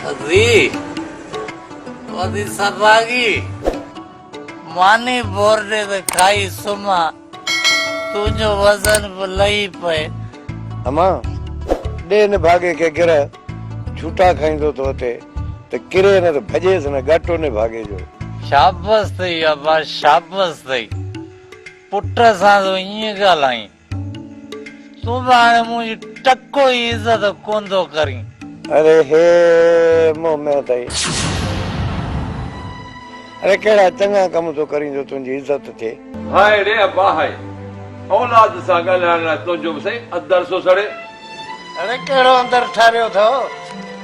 ٿڌي وڌي سرراڳي ماني مورڙي ته کائي سمهان تنهنجو وزن به لهي پئي. امان! ڏي نڀاڳي کي گرهه جهوٽا کائيندو ٿو اٿي ته ڪري نه ته ڀڄيس نه ڳاٽو نڀاڳي جو. شابس اٿئي امان شابس اٿئي پٽ سان تون ائين ڳالهائين. تون به هاڻي منهنجي ٽڪو ئي عزت ڪونٿو ڪرين. اري هي مون ۾ اٿئي. اري ڪهڙا چڱا ڪم ٿو ڪرين جو تنهنجي عزت ٿئي. هائي ڙي ابا هائي. اولاد سان ڳالهائڻ لاء تنهنجو به سائين اندر ٿو سڙي. ڙي ڪهڙو اندر ٺاريو اٿئو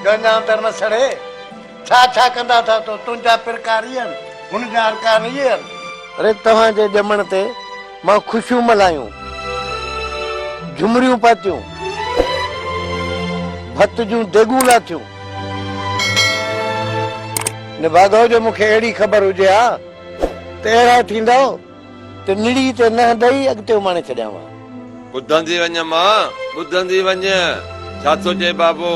جو اڃا اندر نه سڙي. ڇا ڇا ڪندا اٿئو تو تنهنجا پرڪار اهي آهن هن جا ارڪان اهي آهن. ڙي توهان جي ڄمڻ تي. مان خوشيون ملهايون، جهمريون پاتيون، ڀت جون ديڳون لاٿيون. نڀاڳو جو مون کي اهڙي خبر هجي ها ته اهڙا ٿيندؤ ته نڙي تي ننهن ڏئي اڳتي اماڻي ڇڏيان ها. ٻڌندي وڃ مان، ٻڌندي وڃ، ڇا ٿو چئي بابو؟